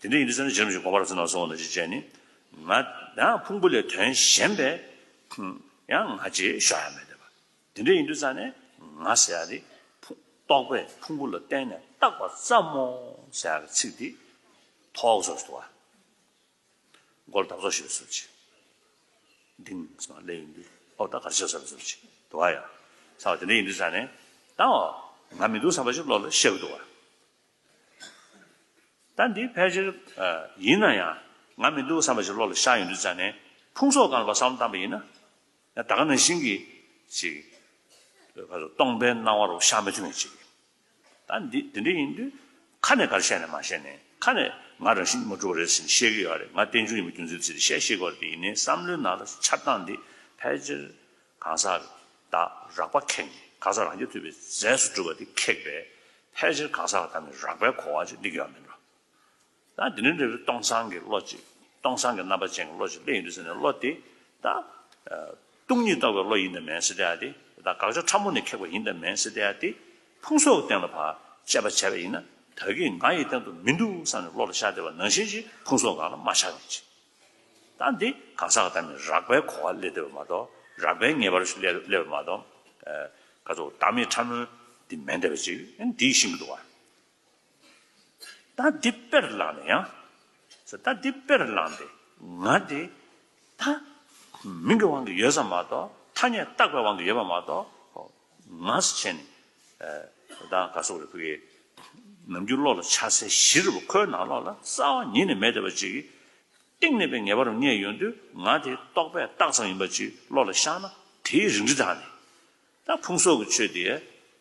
དེ་འདྲ་ཡིན་དུས་ཚོད་ནི་ཇི་རིམ་བཞིན་གོང་མ་རབ་ཚེ་ནང་སོང་བ་དང་གཅིག་བཅས་ནི། ང། ཡང་ཕུང་པོ་ལས་དོན་གཞན་པའི། ཡང་ང་རྗེས་ཤོག་ཡང་མེད་དེ། དེ་འདྲ་ཡིན་དུས་རྩ་ནས་ང་ཟེར་ཡག་དེ། རྟོག་པས་ཕུང་པོ་ལ་བརྟེན་ནས་བཏགས་པ་ཙམ་མོ་ཟེར་ཡག་གི་ཚིག་འདི། ཐོག་སོར་དུ་བ། མགོ་ལ་འདབ་ཚོགས་ཞེས་པའི་སོར་གྱིས། ལྡིང། ལས་ཡིན་དུས་ཨོ་ད་གར་ཞེས་བྱ་བའི་སོར་གྱིས་དུ་བ་ཡང། ཚ་བ་དེ་འདྲ་ཡིན་དུས་རྩ་ནས། ད། ང་མི་འདུག་བསམ་པ་ཞིག་བློ་ལ་ཤར་གི་འདུག་བ། ད་འདི་ཕལ་ཆེར་ཡིན་ན་ཡང་ང་མི་འདུག་བསམ་པ་ཞིག་བློ་ལ་ཤར་ཡོང་དུས་ཙམ་ནས་ཕུང་སོགས་གང་ལ་བབ་བསམ་བློ་བཏང་པ་ཡིན་ན། ད་ག་ནང་བཞིན་གྱི་ཞིག་སྟོང་པའི་སྣང་བ་རུ་ཤར་མ་བྱུང་བ་ཅིག་ཡིན། ད་འདི་འདི་འདྲ་ཡིན་དུས་ཁ་ནས་ག་རེ་བཤད་ནས་མ་བཤད་ནས་ཁ་ནས་ང་རང་བཞིན་གྱི་མ་གྲུབ་པ་རེད་ཟེར་ནས་བཤད་གི་ཡོད་རེད་ང་བསྟན་འབྱུང་ཡིན་པ་རྒྱུ་མཚན་བརྩིས་ཏེ་བཤད་ཤེས་དགོས་རེད་དེ་ཡིན་ནའི་བསམ་བློའི་ནང་ལ་འཆར་སྟངས་འདི་ཕལ་ཆེར་གང་ཟག་བདག་རགས་པ་ཁེངས་ནས་གང་ཟག་རང་རྒྱལ་ཐུབ་པའི་རྫས་སུ་གྲུབ་པ་དེ་ཁེགས་པས་ཕལ་ཆེར་གང་ཟག་དང་ནི་རགས་པའི་གོ་བ་ཅིག་སྡིག་ཡོད་མིན་འགྲོ། ད་དེ་ནི་འབྲས་བུ་སྟོང་སང་གི་བློ་ཅིག་སྟོང་སང་གི་རྣམ་པ་ཅན་གྱི་བློ་ཅིག་ལས་ཡིན་འདུག་ཟེར་ནས་བློ་དེ་ད་སྟོང་ཉིད་རྟོགས་པའི་བློ་ཡིན་དམ་མིན་སྲིད་དེ་ད་དགག་བྱ་ཕྲ་མོ་ནས་ཁེགས་པ་ཡིན་དམ་མིན་སྲིད་དེ་དེ་ཕུང་སོགས་གཏན་ལ་བར་དཔྱད་པ་བྱས་པ་ཡིན་ན་ད་གིས་ང་ཡི་སྟེང་དུ་མི་འདུག་བསམ་ནས་བློ་ལ་ཤར་བདེ་བ་ནང་བཞིན་གྱི་ཕུང་སོགས་གང་ལ་མ་ཆགས་མི་བྱེད། དང་འདི་གང་ཟག་གི་དམ་ནི་རགས་པའི་གོ་བ་སླེ་འདོད་པ་མ་གཏོགས་རགས་པའི་ངེས་པར་སླེ་བ་མ་གཏོགས། ཀ་ཙོག་བདག་མེད་ཕྲ་མོའི་འདི་མེད་འདོད་པ་ཅིག་ཨན་འདིའི་ཤིང་གི་དུ་བ། ད་འདི་དཔེར་བླངས་ནས་ཡང། ད་འདི་དཔེར་བླངས་ཏེ་ང་འདི་ད། མིང་གི་དབང་གིས་ཡོད་ས་མ་གཏོགས་ཐ་སྙད་བཏགས་པའི་དབང་གིས་ཡོད་པ་མ་གཏོགས། ངག་བྱས་ནས། བདག་ག་སོགས་རེ་ཕུལ་ཡས། ནམ་རྒྱུན་གློག་ལ་ཆ་སའི་གཞི་རུ་ཁོའི་ནང་ལོགས་ལ་གསལ་བ་ཉིད་ནས་མེད་བསྡད་པ་ཅིག་གིས། གཏིང་ནས་པའི་ངེས་པ་རུ་ངེས་ཡོང་དུས་ང་དེ་རྟོགས་པའི་རྟགས་ཙམ་ཡིན་པ་ཅིག་བློ་ལ་ཤར་ན་དེའི་རིགས་འདི་དག་ནི། ད་ཕུང་སོགས་ཀྱི་ཆོས་དེ།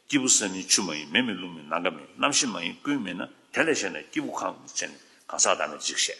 སྐྱེས་བུ་སེམས་མིན་ཆུ་མ་ཡིན་མེ་མིན་རླུང་མིན་ནམ་མཁའ་མིན་རྣམ་ཤེས་མ་ཡིན་ཀུན་མིན་ན་དེ་ལས་གཞན་ན་སྐྱེས་བུ་གང་ཡང་མི་མཆིས་ནས་གང་ཟག་བདག་མེད་ཅིག་བཤད།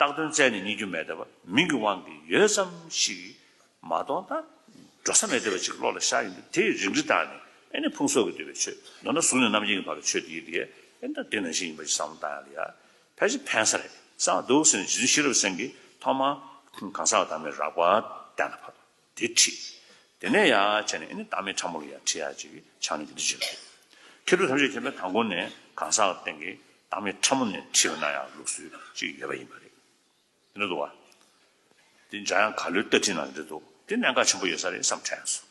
རྟགས་དོན་རྩལ་ནི་རྙེད་རྒྱུ་མེད་སྟབས་མིང་གི་དབང་གིས་ཡོད་ཙམ་ཞིག་མ་གཏོང་ད་འགྲོ་ས་མེད་སྟབས་ཅིག་བློ་ལ་ཤར་ཡོང་དུས་དེ་རིག་འདི་ལྟར་ནི་ཨེ་ནི་ཕུང་སོགས་ཀྱིས་བསྡུས་པའི་ཆོས་མདོར་ན་གཟུགས་ནས་རྣམ་མཁྱེན་གྱི་བར་གྱི་ཆོས་དེའི་དེ་ཨེ་འདྲ་དེ་ནང་བཞིན་ཡིན་པ་ཞིག་བསམ་བློ་བཏང་ཡང་ལ་ཕལ་ཆེར་ཕན་ས་རེད་བསམ་བ་འདུག་ཟེར་ནས་རྗེ་བཙུན་ཤེས་རབ་སེང་གིས་ཐོག་མར་གང་ཟག་བདག་མེད་རགས་པ་གཏན་ལ་ཕབ། དེ་བྲིས། དེ་ནས་ཡ་བྱས་ནས་ཨེ་ནི་བདག་མེད་ཕྲ་མོ་ལ་ཡ་བྲིས་ཡ་བྱས་ཀྱི་ཕྱག་ནི་འདི་བྲིས་བྱས་ལ། ཁེར་ཁྲོ་ཐམས་ཅད་མཁྱེན་པའི་དང་པོ་ནས་གང་ཟག་སྟེང་གི་བདག་མེད་ཕྲ་མོ་ནས་བྲིས་པ་ན་ཡང་ལུགས་སྲོལ་གཅིག་ཡོད་པ་ཡིན་པ་རེད། དེ་འདྲ་འདུག་བ། དེ་འདྲ་ཡང་ག་ལོའི་ལྟ་ཁྲིད་ནང་འདྲི་འདུག་དེ་གནད་འགག་ཆེན་པོ་ཡོད་ས་རེད་བསམ་ཁྲལ་ཡང་སོང།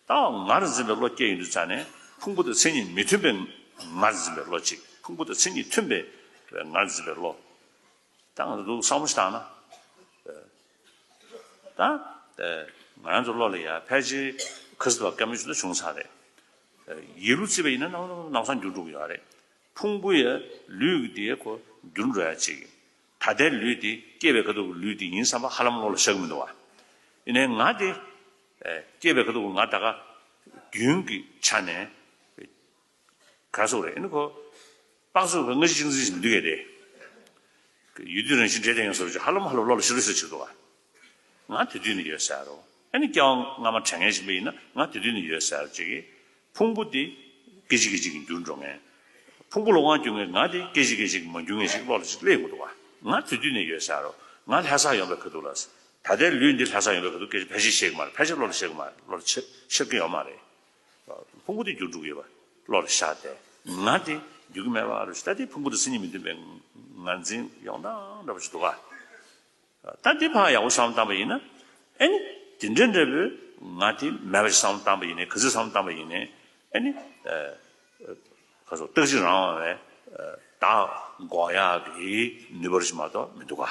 ད་བར་ངར་འཛིན་པའི་བློ་སྐྱེ་ཡི་འདུག་རྩ་ནས་ཕུང་པོ་དང་མཚན་ཉིད་མི་མཐུན་པའི་ངར་འཛིན་པའི་བློ་གཅིག་ཕུང་པོ་དང་མཚན་ཉིད་མཐུན་པའི་ངར་འཛིན་པའི་བློ། དང་དུ་འདུག་བསམ་བློ་བཏང་ན། དང། ང་རང་ཚོ་བློ་ལ་ཡ་ཕལ་ཆེར་ཁུ་སིལ་བ་སྐམ་ཡུལ་ལ་བྱུང་ཚར་རེད། ཡིད་རུ་བརྩི་བ་ཡིན་ན་ནམ་ཡང་ནམ་སང་འགྱུར་འགྲོ་གི་ཡོད་རེད། ཕུང་པོ་ཡ་ལུས་ཀྱི་དེ་ཁོ་འགྱུར་འགྲོ་ཡ་ཅིག་ཡིན། ད་ལྟའི་ལུས་དེ་སྐྱེས་པའི་ཁ་ཐུག་གི་ལུས་དེ་ཡིན་བསམ་པ་ཧ་ལམ་བློ་ལ་ཤར་གི་མི་འདུག་བ། ཡིན་ནའི་ང་དེ། སྐྱེས་པའི་ཁ་ཐུག་གི་ང་ད་ག། རྒྱུན་གྱི་ཆ་ནས། གང་སོགས་རེད། ཁོ་ཏང་སོགས་ཀྱི་སྔ་ཕྱི་གཅིག་འཛིན་བྱེད་མི་འདོད་ཀྱི་རེད། ཡུལ་དུས་རང་བཞིན་འདྲེས་སྡད་ཡོང་ས་རེད་ཅེས་ཧ་ལམ་ཧ་ལམ་ལོག་ལ་ཤི་རུ་ཤི་བྱེད་དོ། ང་དེ་དུས་ནས་ཡོད་ཟེར། ཨ་ནི་སྐྱག་རྔ་མ་དྲན་ངེས་བཞིན་པ་ཡིན་ན་ང་དེ་དུས་ནས་ཡོད་ཟེར་ཅེས་ཀྱི། ཕུང་པོ་དེ་སྐད་ཅིག་སྐད་ཅིག་གིས་འགྱུར་འགྲོ་ངེས། ཕུང་པོ་ལོག་དབང་བསྐྱུར་ངེས་ང་དེ་སྐད་ཅིག་སྐད་ཅིག་གིས་མ་འགྱུར་ངེས་ཤིག་ལོག་ལ་ཅིག་སླེབས་དགོས་འདུག་བ། ང་དེ་དུས་ནས་ཡོད་ཟེར། ང་ལྷ་སར་ཡོང་པའི་གི་འདུག་ལ། ད་ལྟའི་ལུས་འདི་ལྷ་སར་ཡོང་པའི་གི་འདུག་སྐད་ཅིག་ཕལ་ཆེར་ཤེས་ཀྱི་མ་རེད་ཕལ་ཆེར་ལོག་ལ་ཤེས་ཀྱི་མ་རེད་ལོག་ལ་ཤེས་ཀྱི་ཡོད་མ་རེད། ཕུང་པོ་དེ་རྒྱུར་འགྲུབ་ཡོད་པ་བློ་ལ་ཤར་ཏེ། ང་དེ་རྒྱུ་གི་མེད་པ་རེད་ཤེས་ལྟ་དེའི་ཕུང་པོ་དེ་སེམས་ཉིད་མི་མཐུན་པའི་ངར་འཛིན་ཡོང་སྟངས་འདྲ་པོ་ཞིག་འདུག་ག་ལྟ་དེ་ཕ་ཡག་པོ་བསམ་བཏང་པ་ཡིན་ན་ཨེ་ནི་དེ་འདྲའི་འདྲ་པོའི་ང་དེ་མེད་པ་ཞིག་བསམ་བཏང་པ་ཡིན་ནའི་ག་ཚོད་བསམ་བཏང་པ་ཡིན་ནའི་ཨེ་ནི་ཁ་སོ་སྟག་གཅིག་རང་བས་བདག་འགོག་ཡག་གི་ནུས་པ་རེ་ཞིག་མ་གཏོགས་མི་འདུག་ག།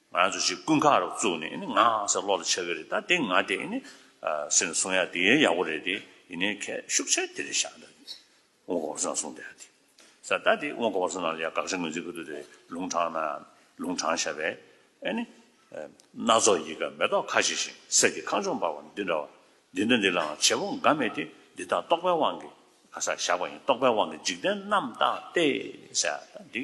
ང་ཚོ་གཅིག་སྐུ་མཁར་རོ་བཙུགས་ནས་ནི་ང་ཟེར་ལོག་ལ་ཆགས་ཀྱི་རེད་ད་དེ་ང་དེ་ནི་སེམས་ལ་བཟུང་ཡ་དེ་ཡ་ཡག་པོ་རེད་དེ་ཡིན་ནའི་ཁ་ཤུགས་ཆེ་དེ་རེད་བཞག་ད་དེ་དབོན་གོ་བ་བཟུང་ཡ་བཟུང་དེ་ཡ་དེ་ས་ད་དེ་དབོན་གོ་བ་བཟུང་ན་ཡ་དགག་བྱ་ངོས་འཛིན་ཁུ་དོ་དེ་ལུང་དྲང་ན་ལུང་དྲང་བཞག་པས་ཨེ་ནི། སྣ་ཚོགས་ཡི་ག་མེ་ཏོག་ཁ་བྱེ་ཞིང་གསེར་གྱི་ཁང་ཆུང་འབར་བ་འདི་འདྲ་བ་འདི་འདྲ་འདི་ལའང་བྱེད་པོ་འགའ་མེད་དེ་འདི་དག་རྟོགས་པའི་དབང་གིས་ག་ས་བཞག་པ་ཡིན་རྟོགས་པའི་དབང་གིས་འཇིག་རྟེན་རྣམས་དག་སྟེ་ས་ད་དེ།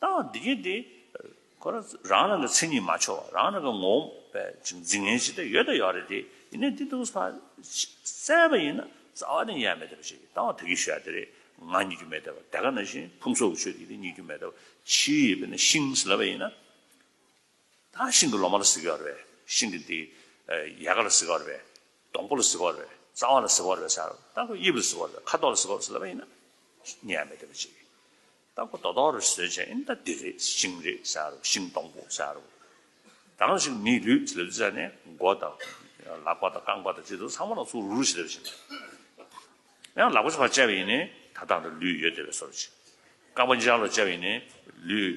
ལྟ་བ་འདི་གལ་ཏེ། ཁོ་རང་རང་གི་མཚན་ཉིད་མ་ཆོག་རང་རང་གི་ངོ་བོ་འཛིན་ངན་ཇི་ལྟར་ཡོད་དེ་ཡོད་རེད་དེ་ཡིན་ནའི་དེ་དུག་ས་བསལ་བ་ཡིན་ན་རྩ་བ་ནས་ཡལ་མེད་དེ་བྱས་ཀྱི་ལྟ་བ་དེ་གི་ཞུ་ཡ་དེ་རེད་ང་རྙེད་རྒྱུ་མེད་དེ་བ་དེ་ག་ནང་བཞིན་ཕུང་སོགས་ཀྱི་ཆོས་དེ་དེ་རྙེད་རྒྱུ་མེད་དེ་བ་ཕྱིའི་ཡས་པས་ན་ཤིང་ཟེར་བ་ཡིན་ན། ད་ཤིང་གི་ལོ་མ་ལ་ཟེར་གི་ཡོད་རེད་བས་ཤིང་གི་དེ་ཡལ་ག་ལ་ཟེར་གི་ཡོད་རེད་བས་སྡོང་པོ་ལ་ཟེར་གི་ཡོད་རེད་བས་རྩ་བ་ལ་ཟེར་གི་ཡོད་རེད་བས་ས་ལྟ་གི་དབྱིབས་ལ་ཟེར་གི་ཡོད་རེད་བས་ཁ་དོག་ལ་ཟེར་གི་ཡོད་རེད་བསལ་བ་ཡིན་ན་ཉལ་མེད་དེ་བ་བྱས་ཀྱི། རྟ་ཁོ་ད་དོང་རུ་བཟོས་བྱས་ཨིན་རྟ་དེ་རེད་ཤིང་རེད་བྱ་རུ་ཤིང་སྡོང་པོ་བྱ་རུ། ད་རུང་ཞིག་མིའི་ལུས་ལུས་བྱས་ནས་མགོ་དང། ལག་པ་དང་རྐང་པ་དང་ཅི་འདུག་ཚང་མ་ལ་ཚུར་རུ་རུ་བྱས་བྱས་བྱས། ཡང་ལག་པ་ཆུང་བ་བཅའ་བ་ཡིན་ནས་ད་ད་རུ་ལུས་ཡོད་དེ་བས་སོར་བྱས། རྐང་པ་ལྗང་ལོ་བཅའ་བ་ཡིན་ནས་ལུས།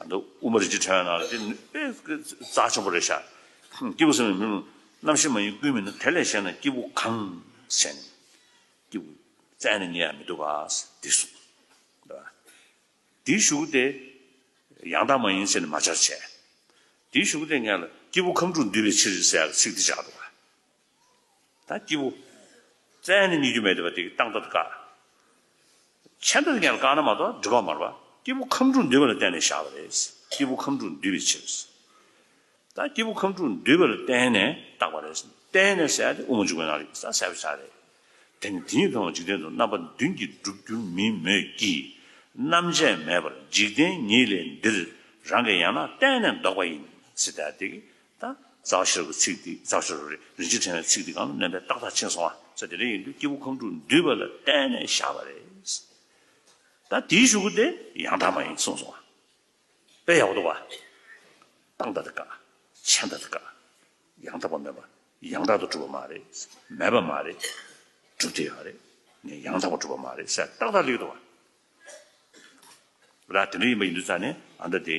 ཨ་འདི་དབུ་མ་རིག་བྱེད་ཁྲོད་ན་ལ་དེ་ནི་དཔེ་རྩ་ཆེན་པོ་རེད་ཤག། སྐྱེས་བུ་སེམས་ཡིན་མིན་ལ་རྣམ་ཤེས་མ་ཡིན་ཀུན་མིན་ན་དེ་ལས་གཞན་ན་སྐྱེས་བུ་གང་བྱས་ནས་སྐྱེས་བུ་བཙལ་ནས་ཉལ་ཡང་མི་འདུག་ག་འདི་གསུངས། འདི་ཞུགས་ཏེ་ཡང་དག་མ་ཡིན་ཟེར་ནས་མ་བྱར་བྱས། འདི་ཞུགས་ཏེ་ངས་ལ་སྐྱེས་བུ་ཁམས་དྲུག་འདུས་པའི་ཕྱིར་ཟེར་ཡག་གི་ཚིག་འདི་བཞག་འདུག་ག། ད་སྐྱིད་པོ། བཙན་ནི་སྙིགས་རྒྱུ་མེད་དེ་བ་དེ་གི་སྟངས་སྟབས་དཀའ། ཆད་འདོད་ཀྱང་བཀག་ན་མ་གཏོགས་འགྲུལ་ཁང་མར་བ་སྐྱིད་པོ་ཁམས་དྲུག་འདུས་པ་ལ་བརྟེན་ནས་བཞག་པ་རེད། སྐྱིད་པོ་ཁམས་དྲུག་འདུས་པའི་ཕྱིར། ད་སྐྱིད་པོ་ཁམས་དྲུག་འདུས་པ་ལ་བརྟེན་ནས་བཏགས་པ་རེད། བརྟེན་ནས་བསལ་ཏེ་དབུ་མ་འཇུག་པའི་ནང་རིག་གསར་བསལ་བའི་ཆ་རེད། དེ་ནི་དེ་ཉིད་མཐོང་བ་འཇིག་རྟེན་དུ་རྣམ་པ་བདུན་གྱིས་འགྲུབ་འགྱུར་མིན་མོད་ཀྱི། རྣམ་བཅད་མེད་པར་འཇིག་རྟེན་ཉིད་ལས་འདིར་རང་གི་ཡང་ན་བརྟེན་ནས་ལྡོག་པ་ཡིན། སྲིད། ད་དེ་གི་དང། རྩ་ཤེར་གྱི་ཚིག་འདི་རྩ་ཤེར་རོ། རིན་ཆེན་ཕྲེང་བའི་ཚིག་འདི་གང་ལ་གནོད་པའི་རྟགས་དག་ཕྱིན་སོང་བ། ས་དེ་རེ་ཡིན་དུས་སྐྱེས་བུ་ཁམས་དྲུག་འདུས་པ་ལ་བརྟེན་ནས་བཞག་པ་རེད། ད་དེའི་ཞུ་སྒོ་དེ་ཡང་དག་མ་ཡིན་གསུངས་སོང་བ། དཔེ་ཡག་པོ་འདུག་བ། རྟགས་འདི་དེ་དགག། མཆན་འདི་དེ་དགག། ཡང་དག་པ་མེད་པ། ཡང་དག་ཏུ་གྲུབ་པ་མ་རེད། མེད་པ་མ་རེད། གྲུབ་དེ་ཡང་རེད། ནས་ཡང་དག་པར་གྲུབ་པ་མ་རེད་ཟེར་རྟགས་དག་ལེགས་འདུག་བ། ར་དེ་འདྲ་ཡིན་པ་ཡིན་དུས་རྩ་ནས་ཨ་མདའ་དེ།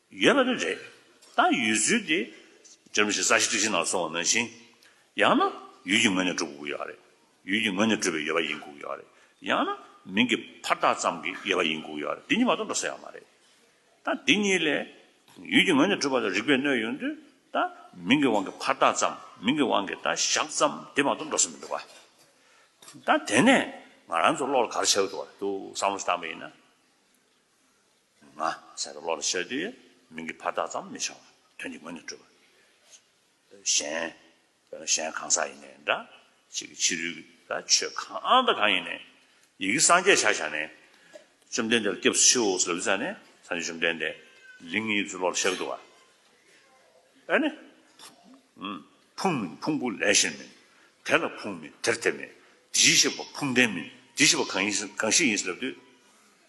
ཡོད་པ་ནི་རེད། ད་ཡུལ་ཚོའི་དེ་ཇོ་མི་ཞིག་ས་གཞི་སྟེགས་བཞི་ནང་སོང་བ་ནང་བཞིན། ཡང་ན་ཡུལ་གྱི་ངོས་ནས་གྲུབ་དགོས་ཀྱི་ཡོད་རེད། ཡུལ་གྱི་ངོས་ནས་གྲུབ་པའི་ཡོད་པ་ཡིན་དགོས་ཀྱི་ཡོད་རེད། ཡང་ན་མིང་གི་ཕར་ཐག་ཙམ་གྱི་ཡོད་པ་ཡིན་དགོས་ཀྱི་ཡོད་རེད་དེ་གཉིས་མ་གཏོགས་འགྲོ་ས་ཡང་མ་རེད། ད་འདི་གཉིས་ལས། ཡུལ་གྱི་ངོས་ནས་གྲུབ་པ་ལ་རིགས་པས་གནོད་ཡོང་དུས་ད་མིང་གི་དབང་གིས་ཕར་ཐག་ཙམ་མིང་གི་དབང་གིས་ད་ཞག་ཙམ་དེ་མ་གཏོགས་འགྲོ་ས་མི་འདུག་ག། ད་དེ་ནས་ང་རང་ཚོ་བློ་ལ་ག་རེ་བྱ་འོས་འདུག་བསམ་བློ་ཞིག་བཏང་པ་ཡིན་ན། ང། ཟེར་བ་བློ་ལ་ཤར་དུས། མིང་གི་བར་ཐག་ཙམ་མི་འཆང་བར་དོན་གྱི་ངོས་ནས་སྤྲོས་པ། གཞན། གཞན་གང་ཟག་ཡིན་ནའི་འདྲ། ཅིག་གི་ཕྱི་རོལ་ལ་ཆོས་གང་དང་གང་ཡིན་ནའི། ཡི་གེ་སངས་རྒྱས་ཆ་བཞག་ནས། བཅོམ་ལྡན་འདས་ལ་སྐྱབས་སུ་མཆིའོ་སོགས་ལབ་ཙེ་བསྩལ་ནས་སངས་རྒྱས་བཅོམ་ལྡན་འདས། ལིང་ངེ་ཚུལ་བློ་ལ་ཤར་གི་འདུག་བ། ཨ་ནི། ཕུང་མིན་ཕུང་པོ་ལས་གཞན་མིན། དེ་ལ་ཕུང་མིན་དེར་དེ་མིན། དེ་བཞིན་གཤེགས་པ་ཕུང་ལྡན་མིན། དེ་བཞིན་པ་གང་ཞིག་ཡིན་སྲིད་ལབ་དུས།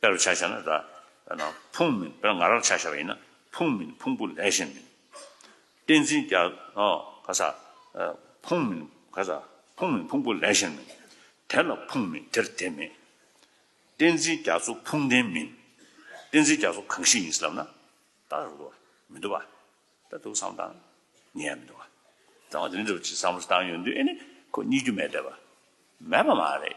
དཔེར་བྱ་བྱ་ན་ར། ཕུང་མིན་དཔེར་ང་རར་བྱ་བྱ་བ་ཡིན་ན་ཕུང་མིན་ཕུང་པོ་ལས་གཞན་མིན། གཏན་ཚིགས་ཀྱ། ག་ས། ཕུང་མིན་ག་ས། ཕུང་མིན་ཕུང་པོ་ལས་གཞན་མིན། དེ་ལ་ཕུང་མེད་དེར་དེ་མེད། གཏན་ཚིགས་རྒྱ་མཚོ་ཕུང་ལྡན་མིན། གཏན་ཚིགས་རྒྱ་མཚོ་གང་ཞིག་ཡིན་སྲིད་ལབ་ན། ད་རུ་འདུག་མི་འདུག་བ། ད་འདུག་བསམ་བཏང། ཉེ་ཡང་མི་འདུག་བ། ད་འོ་དེ་འདྲ་བ་ཅིག་བསམ་བཏང་ཡོད་འདུག་ཨེ་ནི། ཁོ་རྙེད་རྒྱུ་མེད་བསྡད་པ། མེད་པ་མ་རེད།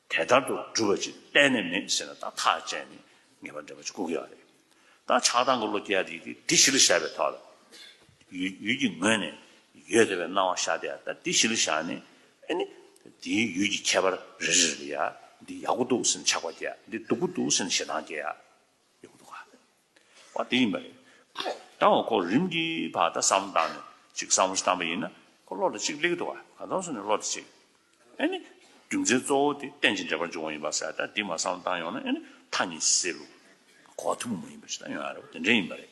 དེ་ལྟར་དུ་སྒྲུབ་པ་ཅིག་གཏན་ནས་མེད་ཟེར་ན་ད་ཐག་བཅད་ནས་ངེས་པར་འགྲེལ་པ་ཅིག་བསྐུར་དགོས་པ་རེད། ད་ཆགས་སྡང་གི་བློ་སྐྱེ་བ་དེ་ཡིད་དེ་གཞི་ལ་བཞག་པའི་ཐོག་ལ། ཡུལ་གྱི་ངོས་ནས་ཡོད་དེ་བས་སྣང་བ་ཤར་དེ་ཡང་ད་དེ་གཞི་ལ་བཞག་ནས། ཨེ་ནི། དེའི་ཡུལ་གྱི་ཁྱད་པར་རེ་རེ་ལ་ཡང་འདི་ཡག་པོ་འདུག་ཟེར་ནས་ཆགས་པ་སྐྱེ་ཡ་འདི་སྡུག་པོ་འདུག་ཟེར་ནས་ཞེ་སྡང་སྐྱེ་ཡ། ཡོད་མི་འདུག་ག། བ་དེ་ཡིན་པ་རེད། ཡང་བ་གོ་རིམ་གྱི་བར་ད་བསམ་བཏང་ནས་ཅིག་བསམ་བློ་བཏང་པ་ཡིན་ན་གོ་བློ་དེ་ཅིག་ལེགས་འདུག་བ་ག་དོན་སུ་ནས་བློ་དེ་ཅིག་ཨེ་ནི། རྒྱུ་མཚན་གཙོ་བོ་དེ་གཏན་གྱི་འབྲེལ་བར་འབྱུང་བ་ཡིན་པ་ཟེར་ད་འདི་མ་བསམ་བཏང་ཡོང་ན་ཨེ་ནི་མཐའ་གཉིས་སེལ་ལུགས་གོ་ཐུབ་མ་ཡིན་པ་ཞིག་ད་ཡོང་ཡ་རེད་བ་དེ་འདྲའི་ཡིན་པ་རེད།